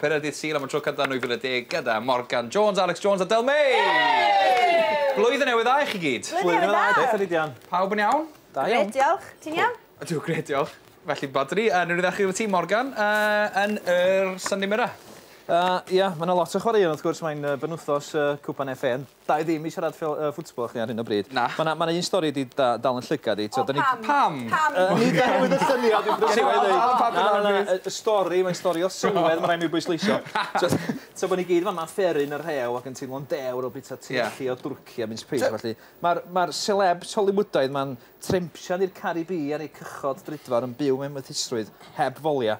Pennod Dydd Sul am y tro cyntaf yn 2010 gyda Morgan Jones, Alex Jones a Del May! Yay! Blwyddyn newydd dda i chi gyd. Blwyddyn newydd dda. Beth ydi dion? Pawb yn iawn? Da iawn. Gret, diolch. Ti'n iawn? Ydw, gret, diolch. Felly, Badri, uh, ni'n ddechrau gyda ti, Morgan, uh, yn yr Sunday Mirror. Uh, ia, mae yna lot o chwaraeon, wrth gwrs, mae'n uh, benwthos uh, Cwpan FA, Dau ddim i siarad ffel- yy football â chdi ar hyn o bryd. Na. Ma' 'na ma' 'na un stori 'di da- dal yn llygad i t'od 'dan ni... O pam? Pam? Pam? Yy nid oherwydd y syniad dwi'n brysur efo hynny. Na na na y y stori mae'n stori o sylwedd ma' rai' mi bwysleisio. T'od t'o' bo' ni gyd fama'n fferin y rhew ac yn teimlo'n dewr o bita treichi o dwrci a mince pies a ballu. Ma'r ma'r selebs Hollywoodaidd 'ma'n trempsian i'r Caribî ar eu cychod drudfawr yn byw mewn mythusrwydd heb folia.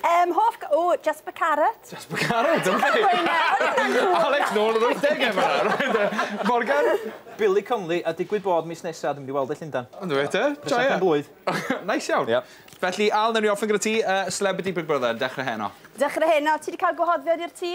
Yy 'm hoff ga- ww Jasper Carrot. Jasper Carrot ok. Ti moyn gweud e? Alex nôl yn wythdege yn fan 'na reit. Morgan? Billy Connolly a digwydd bod mis nesa dwi mynd i weld e Llundan. O 'na fe te. Joia. Prosiect pen-blwydd. Neis iawn. Ia. Felly Al newn ni orffen gyda ti yy celebrity Big Brother dechre heno. Dechre heno ti 'di ca'l gwahoddiad i'r tŷ?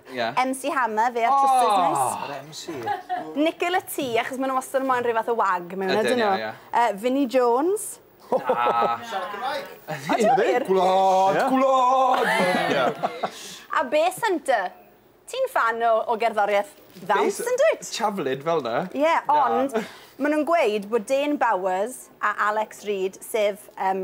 Ie. MC Hammer, fe a'r trwsus neis. O! Yr MC. Nickel y Tŷ, achos ma' nw wastad yn moyn rhyw fath o wag mewn ydyn nw? Ydyn, ie, ie. Yy Vinnie Jones. Na. Siarad Cymraeg. Ydi? Odi wir? Gwlad! Ie. Gwlad! Ie. A Base Hunter. Ti'n ffan o o gerddorieth ddawns yndwyt? Javelin fel 'na? Ie, ond... Na. ...ma' nw'n gweud bod Dane Bowers a Alex Reid, sef yym